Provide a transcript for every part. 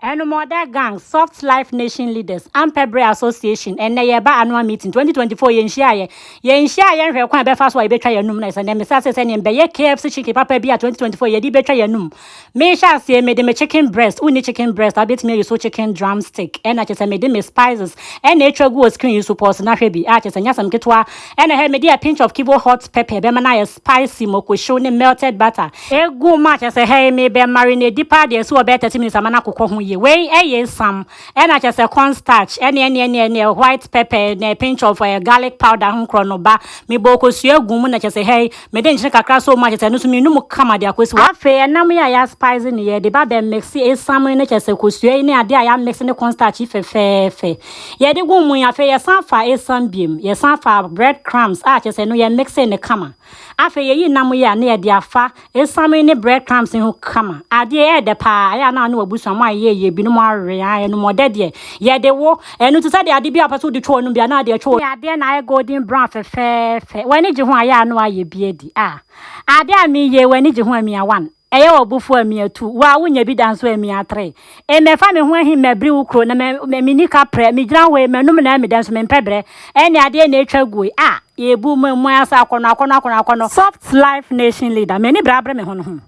Ɛnumɔda gang, soft life nation leaders, ampɛ bere association, ɛnnɛ yɛreba annual meeting, 2024 yɛn nhyiaeɛ, yɛn nhyiaeɛ yɛnhwɛ kwan a ɛbɛfa so a yɛbɛtwa yɛn anum, na ɛsɛ ɛnnɛ mesa ase sɛ neɛ mbɛyɛ KFC chicken papa bi a 2024 yɛde bɛtwa yɛn anum. Mehyɛ aseɛ, mede me chicken breast, wonni chicken breast a wobɛtumi ayi so chicken drum stick, ɛna kyɛ sɛ mede me spices ɛna ɛtwa gu wɔ screen yi so, pause na hwɛ bi, a kyɛ sɛ ɛnyɛ asɛm ketewa, ɛna hɛ, mede a pinch of kivo hot pepper bɛma no ayɛ spicy mako hyew ne melted butter. Egu mu a kyerɛ sɛ hɛi me bɛ marinade paa deɛ ɛsi hɔ bɛyɛ thirty minutes ama no akokɔ ho yie. Wei ɛyɛ esam ɛna kyerɛ sɛ corn starch ɛne ɛne ɛne ɛne white pepper ɛne a pinch of ɛɛ garlic powder ho nkorɔ no ba me bɔ kosua gu mu na kyerɛ sɛ hɛi me de nkyene kakra sɔ mu a kyerɛ sɛ ɛno nso me num kama de akɔsi hɔ. Afei ɛnam yi a yɛ spice no yɛ de ba bɛ mixe esam yi ne kyerɛ sɛ kosua yi ne adeɛ a yɛ amixe ne corn starch yi fɛfɛɛfɛ. Yɛde gu mu yi afei yɛsan fa esiam biom, yɛsan fa bread crumbs a kyerɛ sɛ no yɛ mixe no kama. Afei yɛyi nam yi a na yɛde afa esiam yi ne bread crumbs yi ho kama. Adeɛ yi ɛɛdɛ paa, ayɛ a na ɔne w'abusua mo ayɛ yie, binom awe, ae ɛno mu ɔdɛ deɛ yɛde wo, ɛno te sɛ deɛ ade bi a wopɛ sɛ wode twɛ w'anom bi a na wode atwɛ w'anom. Adeɛ na ayɛ golden brown fɛfɛɛfɛ, w'ani gye ho a ayɛ a na wayɛ bi adi, ah adeɛ a meyɛ yi w'ani gye ho a mia one. Ɛyɛ wo bo fuw a, mia tu, wo a wunnya bi da nso ɛ, mia tre. E mɛfa me ho ahi mɛbiri wo kuro na mɛ, mɛ menni ka prɛ, megyina hɔ e, m'anom na meda nso mempɛ brɛ, ɛnneɛ adeɛ na atwa aguo yi, ah, yɛbu mo mmoa ase akɔnɔ, akɔnɔ, akɔnɔ, akɔnɔ. Soft life nation leader, m'ani bere abere me ho no ho,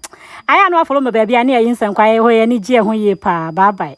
ayɛ a na wafolo me baabi a ne yɛyi nsɛnkwa, yɛyɛ hɔ, yɛn ani gye yɛn ho yie paa, bye bye.